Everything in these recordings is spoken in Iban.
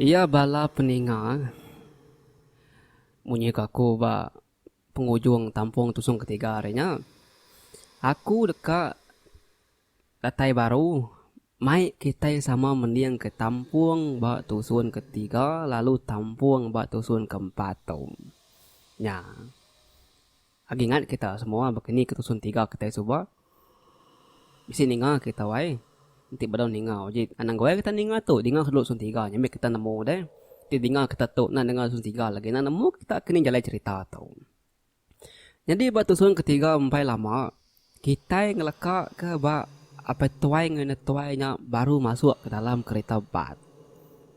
Iya bala peninga munyi ke aku ba pengujung tampung tusung ketiga ari nya aku deka datai baru Mai kitai sama mending ke tampung ba tusun ke tiga lalu tampung ba tusun ke empat tu. Nya. Agi ingat kita semua baka ni ke tusun tiga kitai suba? Bisi ninga kita ai. Enti bedau ninga uji anang gawai kita ninga tu dinga ke dulu tusun tiga nya mih kita nemu deh. Ti dinga kita tu enda denga tusun tiga lagi enda nemu kita ke ni jalai cerita tu. Nyadi ba tusung ketiga empai lama, kitai ngelekaka ba apai tuai enggau indai tuai nya baru masuk ke dalam kereta bas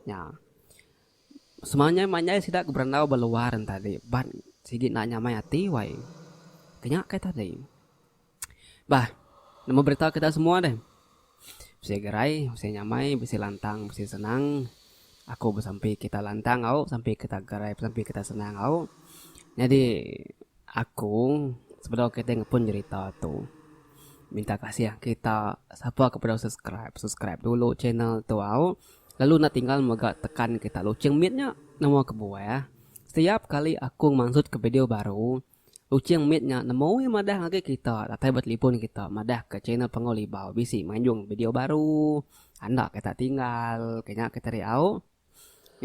nya. Semanjai-manjai sida ke berandau ba luar enti bas sigi enda nyamai ati wai. Ke nya kai tadi. Bah, nama berita ke tak semua deh. Bisi gerai, bisi nyamai, bisi lantang, bisi senang. Aku besampi kita lantang au, besampi kita gerai, besampi kita senang au. Nyadi aku sebedau kita ngepun jerita tu minta kasih kita sapa ke bedau subscribe, subscribe dulu channel tu au. Lalu enda tinggal mega tekan kita loceng mit nya. Nama kebuah, setiap kali aku mansut ke video baru. Kuching mit nya nemu iya madah ngagai kita datai ba telipon kita madah ka channel Panggau Libau bisi manjung video baru anda ke tak tinggal ke nya kita ri au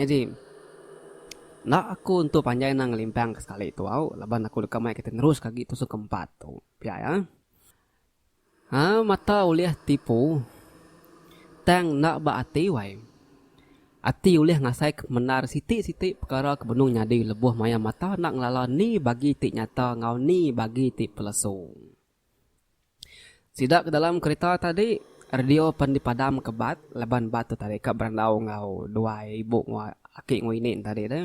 nyadi enda aku entu panjai anang ngelimpang ka sekali tu au laban aku deka mai kita neruska agi episode ke empat tu pia iya. A mata ulih tipu, tang enda ba ati wai. Ati ulih ngasai ke pemendar siti-siti pekara ke benung nyadi lebuh maya mata enda ngelala ni bagi ti nyata enggau ni bagi ti pelesu. Sida ke dalam kerita tadi, radio pen dipadam ke bat laban bat tu tadi ka berandau enggau duai ibu enggau aki enggau ini ne tadi deh.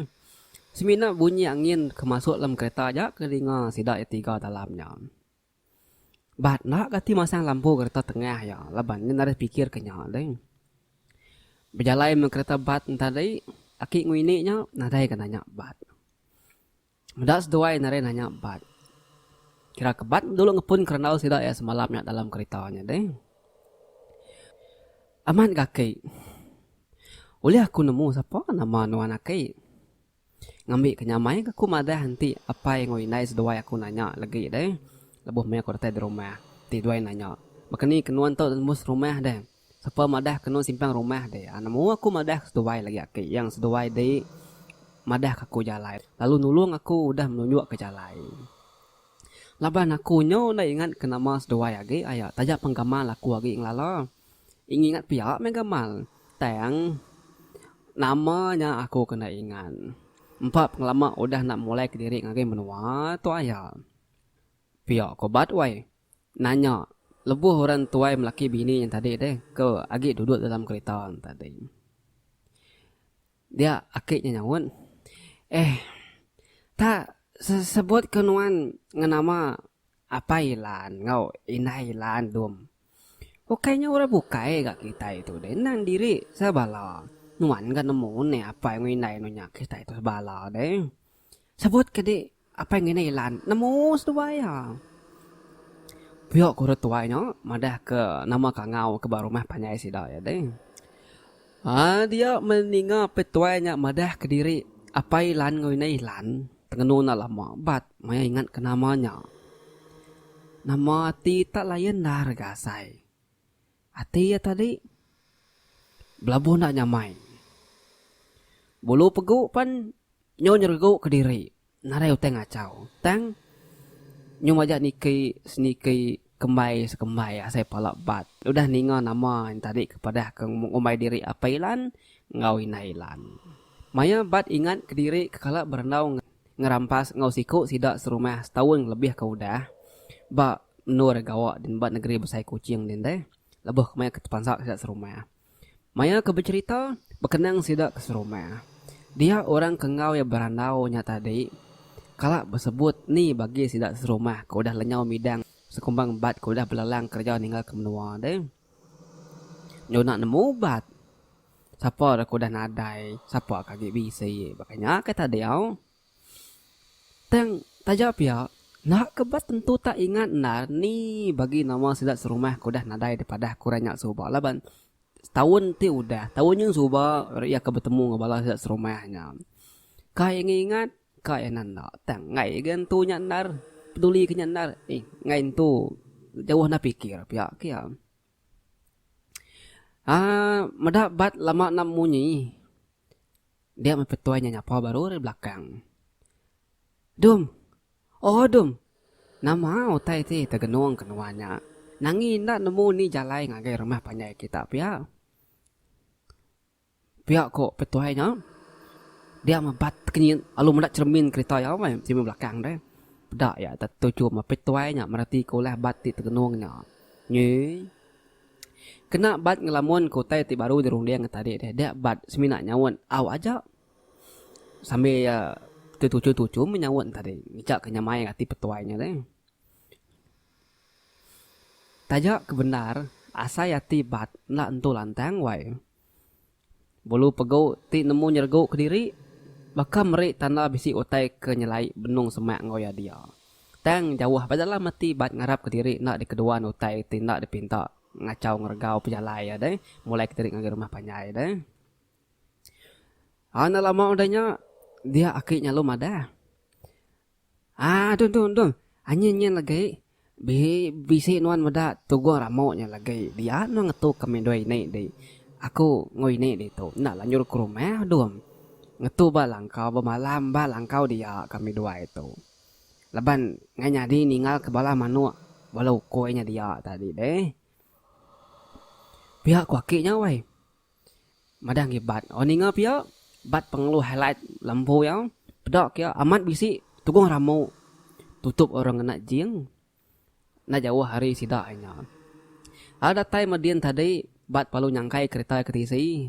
Semina bunyi angin ke masuk dalam kerita aja ke dinga sida ke tiga dalam nya. Ba enda kati masang lampu kereta tengah iya laban nya narit pikir ke nya deh. Bejalai meh kereta bat enta deh aki ngini nya nadai ke nanya bat. Meda seduai narit nanya bat. Kira ke bat dulu ngepun ke randau sida iya semalam nya dalam kereta nya deh. Amat ga aki. Ulih aku nemu sapa nama nuan aki. Ngambika nyamai ke ku madah enti apai enggau indai seduai aku nanya legi deh lebuh meh aku datai di rumah. Ti duai nanya, Bakani ke nuan tu nembus rumah deh? Sapa madah ke nuan simpang rumah deh? Nemu aku madah ke seduai lagi aki yang seduai di madah ke aku jalai lalu nulung aku udah menunjuk ke jalai. Laban aku nyu enda ingat ke nama seduai agi aya taja penggamal aku agi ngelala. Ingat pia mega mal. Tang nama nya aku kena ingat. Empa pengelama udah enda mulai kediri ngagai menua tu aya. Pia ko Bat wai nanya lebuh orang tuai melaki bini nya tadi deh ke agi duduk dalam kerita tadi. Dia aki nya nyaut, Eh tak sebut ke nuan ngenama Apai Ilan enggau Indai Ilan dum. Ukai nya orang bukai ga kitai tu deh endang diri sebala. Nuan ga nemu neh apai enggau indai anu nya kitai tu sebala deh. Sebut ke dik apai enggau indai Ilan nemu seduai iya. Puyok orang tuai nya madah ke nama kangau ke ba rumah panjai sida iya deh. Aa dia meninga petuai nya madah ke diri apai Ilan enggau indai Ilan. Tengenung enda lama bat maya ingat ke nama nya. Nama ati tak layan endar ga asai. Ati iya tadi belabuh enda nyamai. Bulu pegu pan nyu nyeregu kediri nadai utai ngachau tang nyu majak niki seniki Kembai sekembai asai pala bat udah ninga nama nya tadi ke padah ke ngumbai diri Apai Ilan enggau Indai Ilan. Maya bat ingat kediri ke kala berendau ngerampas enggau siku sida serumah setaun kelebih ke udah ba menur gawa ba negeri besai Kuching din deh lebuh maya ke tepansa sida serumah. Maya ke becherita, bekenang sida ke serumah. Dia orang ke enggau iya berandau nya tadi kala besebut ni bagi sida serumah ke udah lenyau midang sekumbang bat ke udah belelang kereja ninggalka menua deh. Nyunak nemu bat. Sapa ra ke udah nadai, sapa ke agi bisi. Baka nya kai tadi au. Tang taja pia, enda ke ba tentu tak ingat endar ni bagi nama sida serumah ke udah nadai dipadah ku ranya suba laban taun ti udah taun nyin suba ri iya ke betemu enggau bala sida serumah nya. Ka iya ngi ingat ka iya enda tang enggai ga entu nya endar peduli ka nya endar enggai entu jauh enda fikir pia ke iya. Aaa meda bat lama enda munyi. Dia meh petuai nya nyapa baru ari belakang. Dum. Ooh dum. Nama utai ti tegenung ke nuan nya. Nangi enda nemu ni jalai ngagai rumah panjai kita pia. Pia ko petuai nya, dia mebat kenyit lalu meda cheremin kereta iya meh cheremin belakang deh. Peda iya dak tetuju meh petuai nya mereti ko ulah bat ti tegenung nya. Nyi kena bat ngelamun ko utai ti baru dirunding tadi deh dia bat semina nyaut au aja sambil iya tetuju-tuju meh nyaut tadi ngejak ke nyamai ati petuai nya deh. Taja ke bendar asai ati bat enda entu lantang wai. Bulu pegu ti nemu nyergu kediri baka meri tanda bisi utai ke nyelai benung semak enggau iya dia. Tang jauh ba dalam ati bat ngarap kediri enda dikeduan utai ti enda dipinta ngachau ngeregau pejalai iya deh mulai kediri ngagai rumah panjai deh. Enda lama udah nya dia aki nyalu madah. Ah dung dung dung. Anyin nyin legi. Bi bisi nuan meda tugung ramuk nya legi. Dia nuan ngetu ke mendoi ini di. Aku enggau ini ditu enda lanjur ke rumah dung. Ngetu ba langkau bemalam ba langkau dia ka meduai tu. Laban ngai nyadi ninggal ke bala manuk bala ukoi nya dia tadi deh. Pia ku aki nya wai. Madah agi bat. Orang ninga pia bat pengalu highlight lembu iya peda kia amat bisi tugong rambu tutup orang ngena jing enda jauh ari sida inya. Lalu datai meh din tadi bat parlu nyangkai kereta ke tisi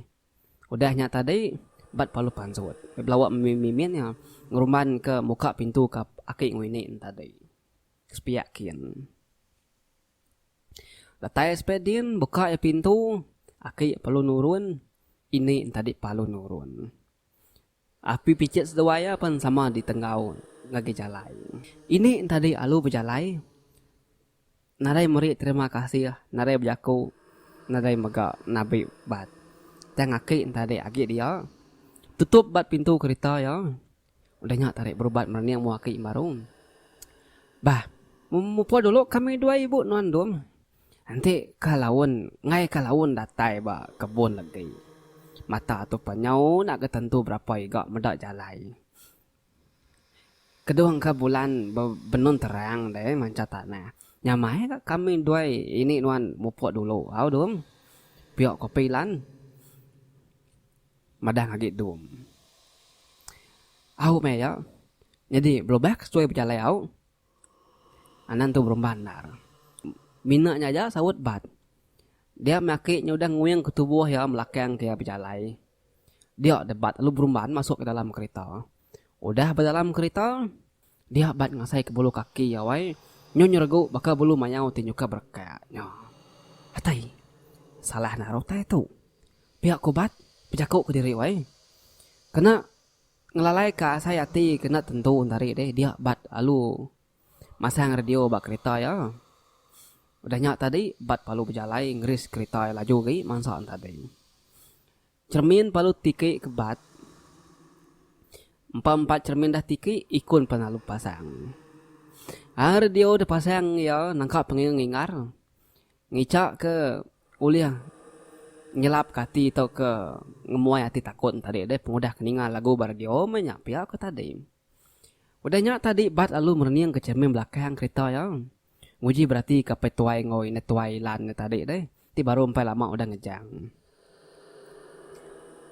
udah nya tadi bat parlu pansut meh belawa mimin iya ngerumban ke muka pintu ka aki ngau ini tadi. Sepiak kin. Datai Spedin buka iya pintu, aki iya perlu nurun, ini entadi palu nurun. Api pichit seduai iya pen sama ditenggau ngagi jalai. Ini entadi alu bejalai, nadai meri terima kasih, nadai bejaku, nadai mega nabi bat. Tang aki entadi agi dia, tutup bat pintu kerita iya. Udah nya tarik berubat merening mua ke Imbaru. Bah, memupuh dulu kami dua ibu nuan Dum. Enti ka laun enggai ka laun datai ba kebun legi. Mata tu pan nyau enda ke tentu berapa iga meda jalai. Kedung ka bulan benun terang deh mancha tanah. Nyamai ka kami dua ini nuan mupuh dulu au Dum. Pia ko Pilan. madah ngagi dum. Au meh iya nyadi belubah ke sesuai bejalai au. Anang tu berumban endar. Mina nya aja saut bat. Dia meh aki nya udah nguing ke tubuh iya belakang ke iya bejalai. Dia deh bat lalu berumban masuk ke dalam kerita. Udah bedalam kerita, dia bat ngasai ke bulu kaki iya wai, nyu nyeregu baka bulu mayau ti nyuka berekak nya. Atai, salah naruh utai tu. Pia ku bat, bejaku ke diri wai. Kena ngelalai ka asai ati ke enda tentu entari deh dia bat alu masang radio ba kerita iya. Udah nya tadi bat palu bejalai ngeris kerita iya laju agi mansa entadi. Cermin palu tiki ke bat. Empa empat cermin dah tiki ikun pan alu pasang. Ai radio da pasang iya nangka penging ngingar ngica ke ulih nyelap ke ati tau ke ngemuai ati takun tadi deh pengudah ke ninga lagu ba radio meh nya pia ko tadi. Udah nya tadi bat lalu merening ke cermin belakang kereta iya nguji berati ke apai tuai enggau indah tuai lan iya tadi deh. ti baru empai lama udah ngejang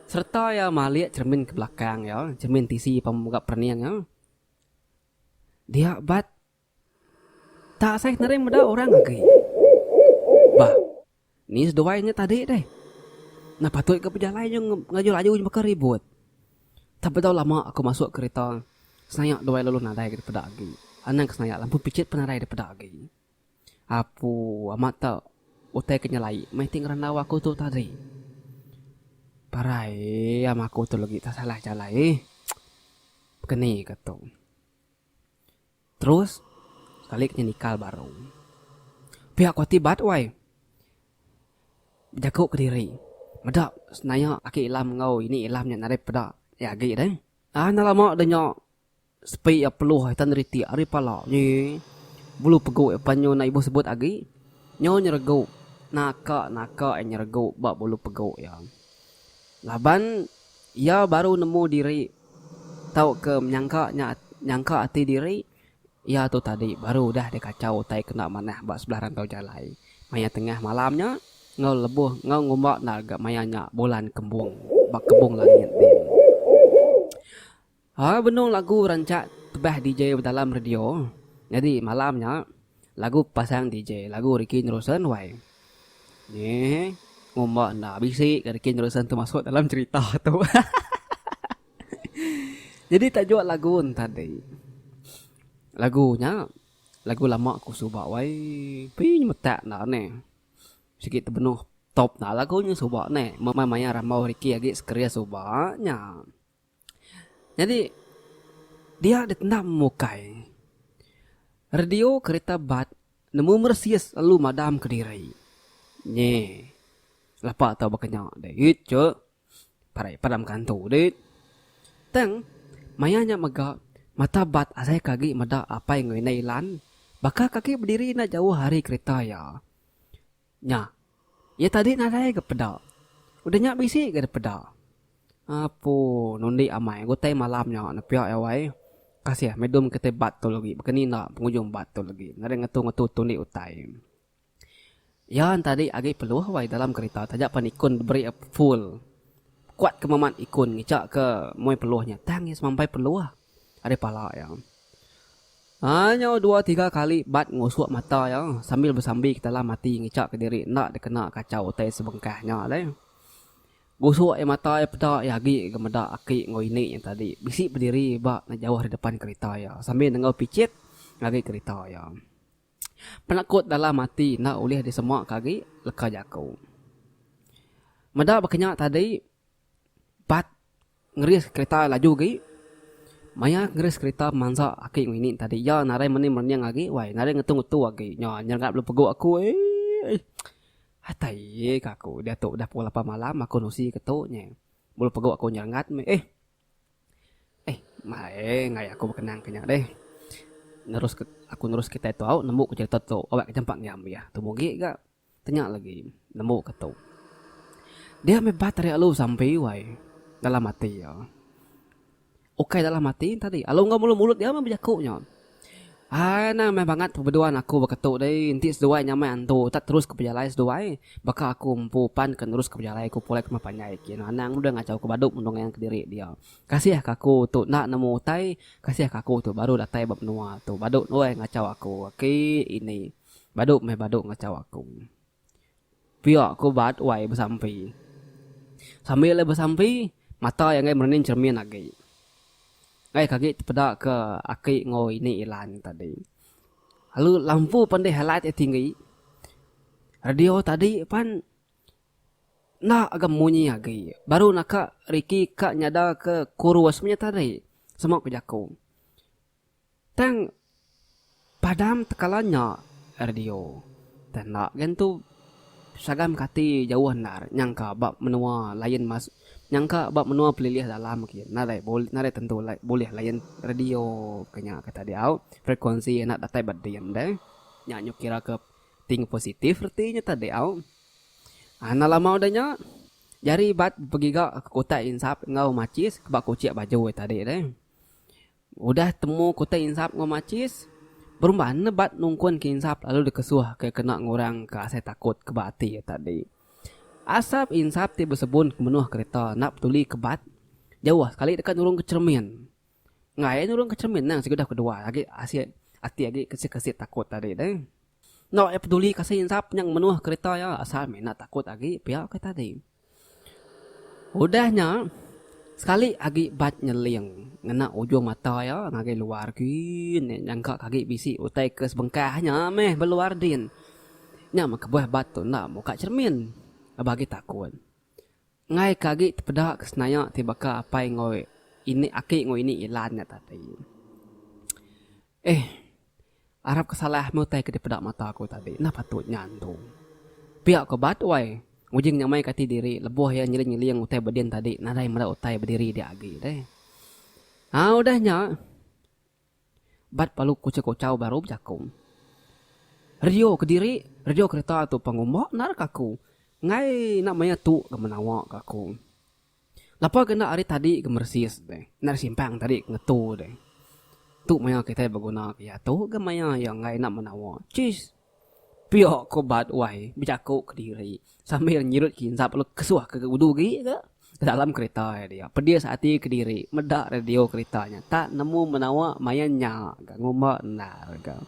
sereta iya malik cheremin ke belakang iya, cheremin tisi pemung mega perening iya. Dia bat tak asai nering meda orang agi. Bah, ni seduai nya tadi deh. Nah patut ke bejalai nya ngaju laju nya baka ribut. Tak bedau lama aku masuk kereta, senayak duai lalu nadai dipeda agi. Anang ke senayak lampu pichit pun nadai dipeda agi. Apu amat ta utai ke nyelai meh ti ngerandau aku tu tadi. Parai am aku tu legi ta salah jalai eh. Pekeni ka tu. Terus sekali ke nyenikal baru. Pia ku ati bat wai. Bejaku kediri. Meda senaya aki ilam enggau ini ilam nya nadai peda agi deh. Ana lama de nya. Sepi iya peluh ai tan ritik ari pala nyi. Bulu pegu iya panyu enda ibuh sebut agi. Nyu nyeregu, naka naka iya nyeregu ba bulu pegu iya. Laban iya baru nemu diri tauka menyangka nya nyangka ati diri iya tu tadi baru udah dikachau utai kena manah ba sebelah rantau jalai maya tengah malam nya enggau lebuh enggau ngumba enda ga maya nya bulan kembung ba kebung langit din. Hal benung lagu rancak tebah DJ bedalam radio, nyadi malam nya lagu pasang DJ lagu Ricky Neruson wai. Nyi ngumba enda bisi ga Ricky Neruson tu masuk dalam cerita tu. Nyadi tajuk lagu entadi lagu nya lagu lama ku suba wai tapi nyemetak enda ne sigi tebenung top enda lagu nya suba ne meh maya rambau Ricky agi sekeria suba nya. Nyadi dia dek enda memukai radio kereta bat nemu meresis lalu madam ke diri. Nyi lapa tau baka nya dit ke parai padam kantu dit. Tang maya nya mega mata bat asai ke agi meda apai ngelinda ilan baka ke agi bediri enda jauh ari kereta iya. Nya. Iya tadi nadai ga peda. Udah nya bisi ga dipeda. Apu nundi amai ga utai malam nya nepia iya wai. Kasih meh dom kitai bat tu lagi baka ni enda pengujung bat tu lagi. Ngagai ngetu-ngetu tundi utai. Iya tadi agi peluh wai dalam kerita taja pan ikun diberi iya full. Kuat ke meman ikun ngica ke mui peluh nya tang iya semampai peluh ari pala iya. Anyau dua tiga kali bat ngusuk mata iya sambil besambi ketalam ati ngicha ke diri enda dikena kachau utai sebengkah nya alai. Gusuk iya mata iya peda iya agi ga meda aki enggau ini nya tadi bisi bediri ba ngejauh di depan kerita iya sambil nenggau pichit ngagai kerita iya. Penakut dalam ati enda ulih disemaka agi leka jaku. Meda baka nya tadi bat. Ngeris kerita laju agi. Maya ngeris kerita mansa aki ngini tadi iya nadai meni merenyeng agi wai nadai ngetu ngetu agi nya nyerengat bala pegu aku eeii atai ye ka aku diatu dah pukul lapan malam aku nusi ke tu nye bala pegu aku nyerengat meh eh eh maeh ngayak aku bekenang ke nya deh nerus aku nerus kerita tu au nemu ku cerita tu au ke jampat ngiam iya tu mugi ga. Tanya lagi nemu ke tu. Dia meh bat ari alu sampi wai dalam ati iya. Ukai dalam ati enta di alu enggau mulut dia meh bejaku nya. Ai nang meh bangat pebeduan aku baka tu deh enti seduai nyamai antu utak terus ke pejalai seduai baka aku empu pan ke nerus ke pejalai aku pulai kemah panjai agi anu anang udah ngachau aku badu mendung ngayan kediri dia. Kasih ka aku tu enda nemu utai, kasih ka aku tu baru datai ba menua tu badu ngachau aku aki ini. Badu meh badu ngachau aku. Pia ku ubat wai besampi. Sambil iya besampi, mata iya enggai merening cermin agi. Enggai ke agi tepeda ke aki enggau ini Ilan nya tadi. Lalu lampu pan deh highlight iya tinggi. Radio tadi pan enda ga munyi agi. Baru naka Ricky ka nyada ke chorus meh nya tadi, sema ku jaku. Tang padam tekala nya radio. Tang enda gen tu Sagam kati jauh endar nyangka ba menua lain mas nyangka ba menua pelilih dalam agi enda alai bulih enda alai tentu alai bulih layan radio ke nya ke tadau frekuensi enda datai ba din deh. Nya nyuk kira ke ti ngu positif reti nya tadi au. Anda lama udah nya jari bat begiga ke utai insap enggau machis ba kuchik baju tadi deh. Udah temu kutai insap enggau machis, Berumba nebat nungkun ke insap lalu dikesuh ke kena ngurang ke asai takut ke ba ati iya tadi. Asap insap ti besebun ke menuh kereta enda petuli ke bat, jauh sekali deka nurung ke cheremin. Enggai iya nurung ke cheremin nang sikudah kedua agi asi ati agi kesit-kesit takut tadi deh. Enda iya petuli ke asai insap nya menuh kereta iya asal meh enda takut agi pia ke tadi. Udah nya, sekali agi Bac nyeling ngena ujung mata iya ngagai luar din iya nyangka ke agi bisi utai ke sebengkah nya meh ba luar din. Nya meh kebuah Bac tu enda muka cermin laban agi takun. Enggai ke agi tepeda ke senaya ti baka apai enggau ini, aki enggau ini Ilan nya tadi. Eh. Arap ke salah meh utai ke dipeda mata aku tadi enda patut nya antu. Pia ko ba tuai, Ujing nyamai ke ati diri lebuh iya nyeling-nyeling utai ba din tadi nadai meda utai ba diri dia agi deh. Ha udah nya bat palu kuchau-kuchau baru bejaku. Radio ke diri, radio kereta tu pengumba nara ke aku. Enggai enda maya tu ke menawa ke aku. Lapa ke enda ari tadi ke meresis deh. Enda ari simpang tadi ke ngetu deh. Tu maya kitai beguna ke iya tu ke maya iya enggai enda menawa. Chis! Pia ke ubat wai bejaku ke diri sambil nyirut kinsap lalu kesuh ke udu agi ke dalam kereta iya dia. Pedis ati ke diri meda radio kereta nya tak nemu menawa maya nya ka ngumba endar ka.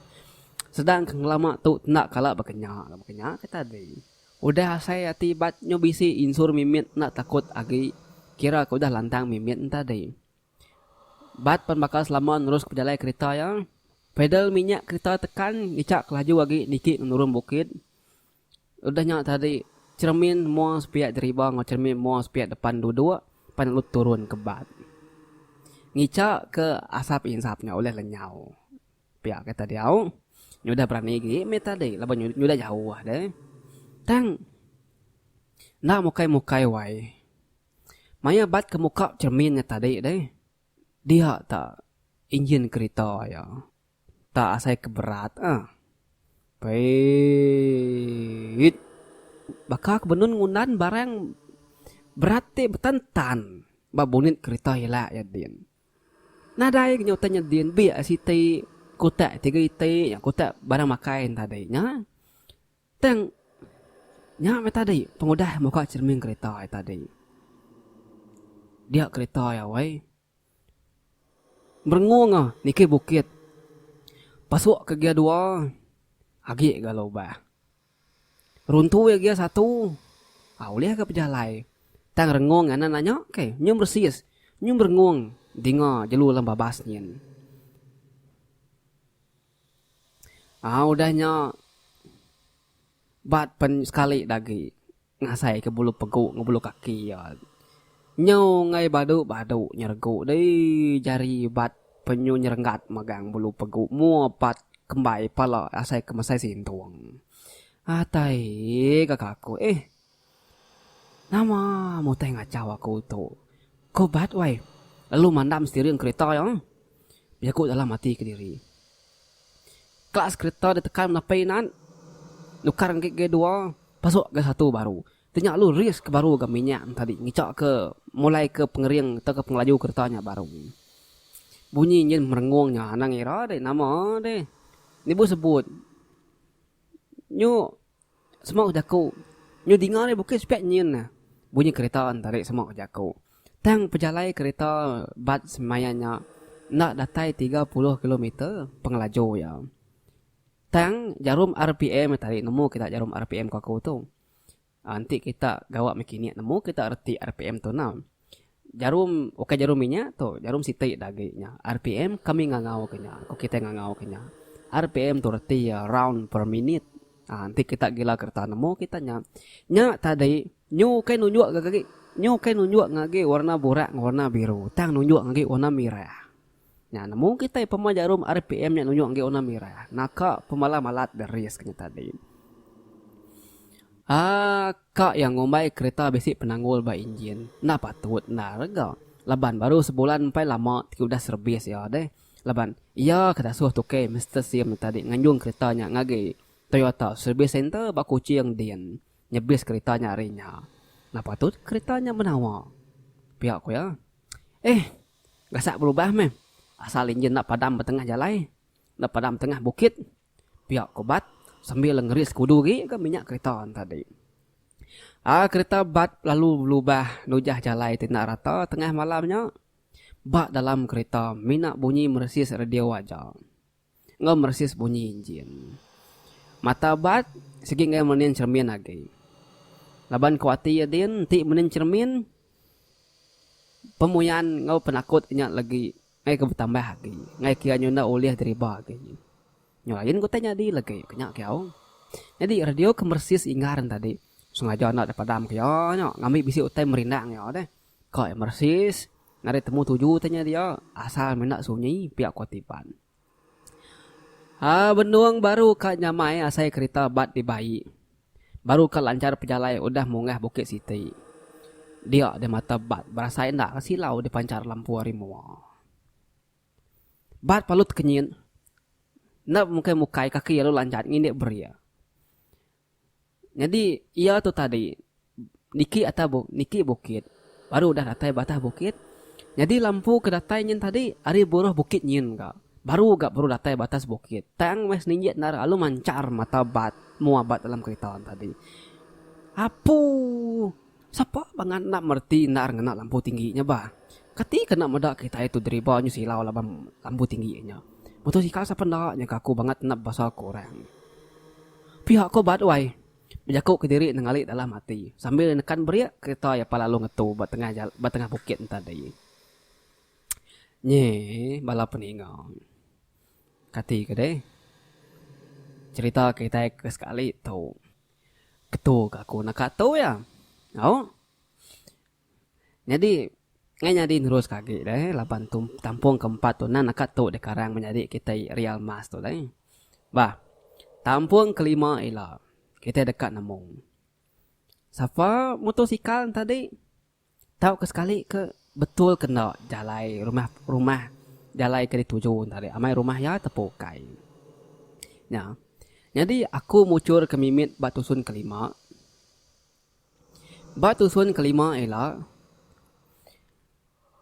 Sedang ke ngelama tu enda kala baka nya ka baka nya ka tadi. Udah asai ati bat nyu bisi insur mimit enda takut agi kira ke udah lantang mimit entadi. Bat pan bakal selama nerus pejalai kerita iya. Pedal minyak kerita tekan ngichak kelaju agi niki ngenurun bukit. Udah nya tadi cheremin mua sepiak deriba enggau cheremin mua sepiak depan duduk pan lalu turun ke bat. Ngichak ke asap insap nya ulih lenyau. Pia kata diau, nya udah berani agi meh tadi laban nya udah jauh deh. Tang enda mukai-mukai wai. Maya bat ke muka cermin nya tadi deh, dia ta injin kerita iya. Enda asai ke berat ah. Peiit. Baka ke benun ngundan barang berat ti betan-tan ba bunit kerita ila iya din. Nadai ke nyutai nyedin biak siti ke utai ti geriti nya ke utai barang makai ne tadi nya. Tang nya meh tadi pengudah muka cermin kereta ti tadi. Dia kereta iya weh merengung ah niki bukit pasuk ke gear dua agi ga lubah. Runtu ia gia satu. Au ulih ga pejalai. Tang rengung nganan nya nya ke. Nyum resis. Nyum rengung dinga jelu alam babas nyin. Au udah nya bat pen sekali dagi. Ngasaika bulu pegu enggau bulu kaki iya. Nyau enggai badu-badu nyeregu dei jari bat penyu nyerenggat megang bulu pegu mua pat kembai pala asaika mesai sintung. Atai ka kaku eh. Nama mutai ngachau aku tu. Ko bat wai. Lalu mandam setiring kerita iya. Bejaku dalam ati kediri. Kelas kereta ditekan menapi nan nukar ngi gear dua pasuk gear satu baru. Tenya lu rears ke baru ga minyak enta di ngica ke mulai ke pengering tau ke pengelaju kereta nya baru. Bunyi enjin merengung nya anang ira deh nama deh. Nibu sebut nyu Semak ke jaku. Nyau dinga nya bukai sepik nyin ne. Bunyi kereta entari semak ke jaku. Tang pejalai kereta bas semaya nya enda datai tiga puluh kilometer pengelaju iya. Tang jarum rpm tadi nemu kita jarum rpm ke aku tu. Enti kita gawa mekanik nemu kita reti rpm tu enda. Jarum ukai jarum inya tu, jarum siti da agi nya. RPM kami ngangauka nya, ku kitai ngangauka nya. RPM tu reti iya round per minit. Aa enti kita gila kereta nemu kita nya. Nya tadi nyu ukai nunjuk ga agi, nyu ukai nunjuk ga agi warna burak enggau warna biru tang nunjuk ga agi warna mirah. Nya nemu kitai pemai jarum rpm nya nunjuk enggai warna merah. Naka pemalam alat deris ke nya tadi. Aka iya ngumbai kereta bisi penanggul ba injin enda patut enda rega laban baru sebulan empai lama ti udah servis iya deh laban iya ke dasuh tukei Mister Sim nya tadi nganjung kereta nya ngagai Toyota Service Centre ba Kuching din nyebis kereta nya ari nya. Enda patut kereta nya menawa, pia ku iya. Eh. Gasak berubah meh. Asal injin enda padam ba tengah jalai, enda padam tengah bukit, pia ko Bat sambil ngeri sekudu agi ga minyak kereta tadi. Ai kereta Bat lalu belubah nujah jalai ti enda rata tengah malam nya. Ba dalam kereta mina bunyi meresis radio aja. Enggau meresis bunyi injin. Mata abat, sigi enggai menin cheremin agi. Laban ku ati iya din, enti menin cheremin, pemuyan enggau penakut nya legi enggai ke betambah agi. Enggai kira nyunak ulih diriba agi. Nyau lain ke utai nyadi legi ke nya kiyau. Nyadi radio ke meresis ingar ntadi, sengaja enda dipadamka iya nya ngambi bisi utai merindang iya deh. Ka Emersis ngagai temu tuju tanya dia asal menda sunyi pia ku Tiban. Ha benung baru ka nyamai asai kerita bat dibai. Baru ka lanchar pejalai udah munggah bukit siti. Dia di mata bat berasai enda ka silau dipanchar lampu ari mua. Bat palut kenyit enda bemukai-mukai kaki lalu lanjat ngindik beria. Nyadi iya tu tadi niki atas bukit niki bukit baru udah datai batah bukit nyadi lampu ke datai nyin tadi ari buruh bukit nyin ga baru ga baru datai batas bukit tang meh seninjik endar lalu manchar mata bat mua bat dalam kerita tadi apuuh. Sapa bangat enda mereti endar ngena lampu tinggi nya bah. Kati kena meda kitai tu deriba nyu silau laban lampu tinggi nya. Motosikal sapa enda nya kaku bangat nap basa ku orang. Piak ko bat wai. Bejaku ke diri nengali dalam ati sambil nekan brek kereta iya pa lalu ngetu ba tengah jalan ba tengah bukit tadi. Nyeh bala peninga. Kati ke deh. Cerita kitai ke sekali tu. Ketu ke aku naka tu iya. Au. Nyadi ngai nyadi nerus ka agi deh laban tu tampung ke empat tu nan naka tu deh karang menyadi kitai real mass tu deh. Bah. Tampung ke lima ila. Kitai deka nemu. Sapa mutosikal enti tadi. Tauka sekali ke betul ke enda jalai rumah rumah jalai ke dituju enta deh amai rumah iya tepukai. Nya. Nyadi aku muchur ke mimit ba tusun kelima. Ba tusun kelima ila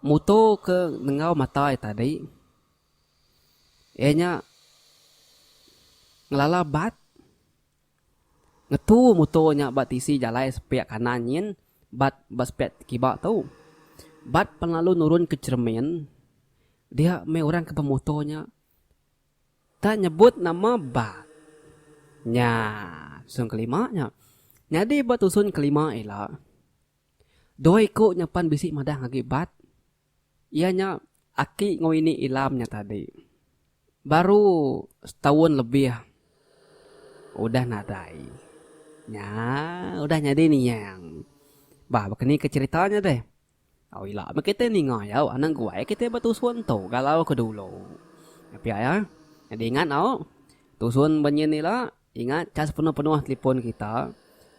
muto ke nengau mata iya tadi iya nya ngelala bat. Ngetu muto nya ba tisi jalai sepiak kanan nyin bat ba sepiak kiba tu. Bat pan lalu nurun ke cheremin dia meh orang ke ba muto nya tak nyebut nama bat. Nya tusun kelima nya. Nyadi ba tusun kelima ila dua iku nya pan bisi madah agi bat. Iya nya aki enggau ini Ilam nya tadi. Baru setaun lebih udah nadai. Nya udah nyadi niang. Bah baka ni ke cerita nya deh. Au ila meh kita ninga iya anak guai kita betusun tu galau ke dulu. Tapi aya nyadi ingat au tusun banyin ila. Ingat, ka sepenuh-penuh telefon kita,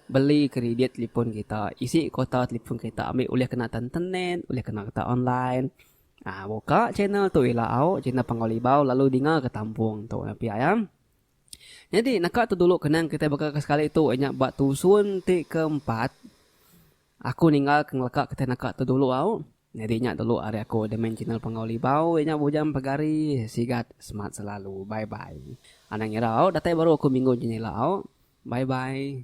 beli kridit telefon kita, isi kuota telefon kita ambi ulih kena ke internet, ulih kena kita online. Aa buka channel tu ila au, channel Panggau Libau lalu dinga ke tampung tu nya pia iya. Nyadi naka tu dulu kenang kitai baka ke sekali tu iya nya ba tusun ti keempat. Aku ninggal ke ngeleka kitai naka tu dulu au. Nyadi nya dulu ari aku admin channel Penggau Libau iya nya Bujang Pegari sigat semat selalu bye bye. Anang ngira au datai baru aku minggu nji nya ila au. Bye bye.